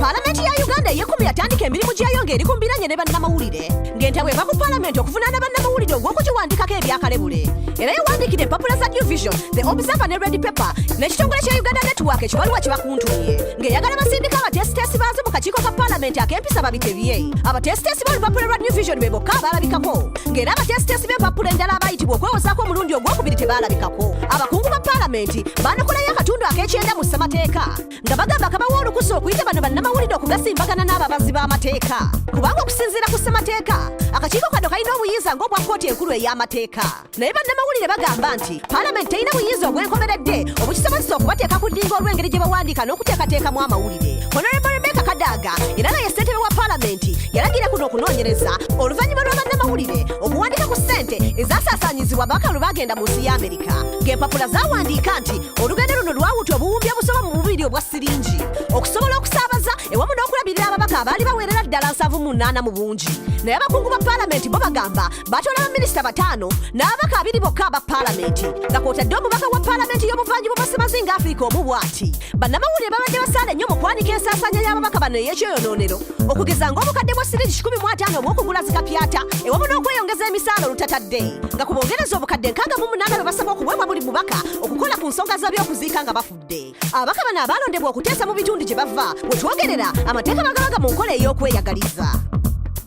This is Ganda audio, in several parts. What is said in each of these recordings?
Palamenti ya Uganda ey'ekkumi yatandika emirimu gyayo ng'eri ku mbiranye ne bannamawulire ng'entabwe eva ku palamenti okuvunaana bannamawulire ogw'okugiwandiikako ebyakalebule era yawandiikira empapula za new vision the observer ne red paper n'ekitongole kya uganda network ekibaluwa kye bakuntumye ng'eyagala basindika abateesiteesi baazo mu kakiiko ka palamenti ak'empisa babitebye abateesiteesi b'olupapula lwa new vision be bokka abalabikako ng'era abateesiteesi b'empappula endala abaayitibwa okwewozaako omulundi ogw'okubiri tebaalabikako abakungu ba paalamenti baanokolayo akatundu ak'ekyenda mu ssemateeka nga bagamba kabawa olukusa okuyita bano bannamawulire okugasimbagana n'ababazi b'amateeka kubanga okusinziira ku ssemateeka akakiiko kano kalina obuyinza ng'obwa kkooti enkulu ey'amateeka naye bannamawulire bagamba nti palamenti terina buyinza obwenkomeredde obukisobozesa okubateeka ku ddinga olw'engeri gye bawandiika n'okuteekateekamu amawulire honorable rebeka kadaaga era nga ye ssentebe wa palamenti yalagira kuno okunoonyereza oluvannyuma lwa bannamawulire okuwandiika ku ssente ezasaasaanyizibwa ababaka lwe bagenda mu nsi ya amerika ng'empapula zawandiika nti olugendo luno lwawuta obuwumbi obusoba mu bubiri obwa siringi okusobola okusaabaza ewamu n'okulabirira ababaka abaali baweerera ddala nsavu mu nnaana mu bungi naye abakungu ba palamenti bo bagamba batoola baminisita bataano n'ababaka abiri bokka aba palamenti nga kwotadde omubaka wa palamenti y'obuvanjuba bwa semazinga afirika omu bwati bannamawulire babadde basaale nnyo mu kwanika ensaasaanya y'ababaka bano ey'ekyoyonoonero okugeza ng'obukadde bwa sirigi 15 obw'okugula zikapyata ewamu n'okweyongeza emisaala olutatadde nga ku bongereza obukadde nkaaga mu munaana bwe basaba okuweebwa buli mubaka okukola ku nsonga z'abyokuziika nga bafudde ababaka bano abaalondebwa okuteesa mu bitundu gye bava we twogerera amateeka bagabaga mu nkola ey'okweyagaliza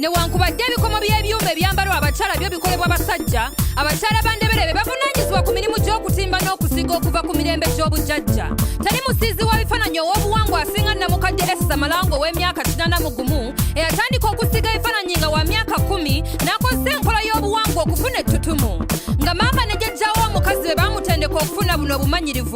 newankubadde ebikomo by'ebyuma ebyambalwa abakyala byo bikolebwa basajja abakyala bandebere be bavunaanyizibwa ku mirimu gy'okutimba n'okusiga okuva ku mirembe gy'obujajja tali musiizi wa bifaananyi ow'obuwangwa asinga namukadde esa malango ow'emyaka kinana mu gumu eyatandika okusiga ebifaananyi nga wa myaka kumi n'akozesa enkola y'obuwangwa okufuna ettutumu nga maama ne jajjawo omukazi be baamutendeka okufuna buno obumanyirivu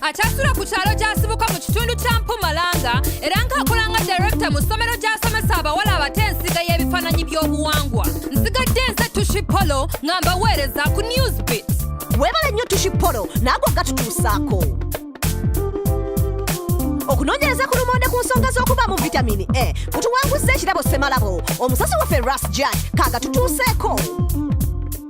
akyasula ku kyalo gy'asibuka mu kitundu kya mpumalanga era ng'akola nga direkita mu ssomero gy'asomesa abawala abato ensiga y'ebifaananyi by'obuwangwa nsigadde nze tushi polo nga mbaweereza ku newsbit weebale nnyo tushi polo naagwe gatutuusaako okunoonyereza ku lumonde ku nsonga z'okubaamu vitamini e kutuwanguzza ekirabo ssemalabo omusasi waffe ras jan kaagatutuuseeko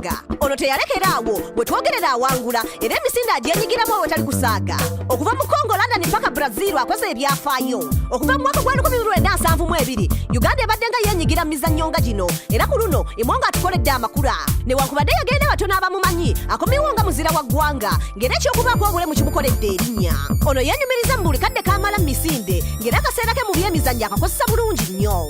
kusaaga ono teyalekera awo bwe twogerera awangula era emisinde agyenyigiramu awo etali kusaaga okuva mu congo london mpaka brazil akoze ebyafaayo okuva mu mwaka gwa 1972 uganda ebadde nga yenyigira mu mizannyo nga gino era ku luno imwo nga atukoledde amakula newankubadde yagenda batono abamumanyi akomewo nga muzira wa ggwanga ng'era ekyokubaako obulemu kimukoledde erinnya ono yenyumiriza mu buli kadde kamala mu misinde ng'era akaseera ke mu byemizannyo akakozesa bulungi nnyo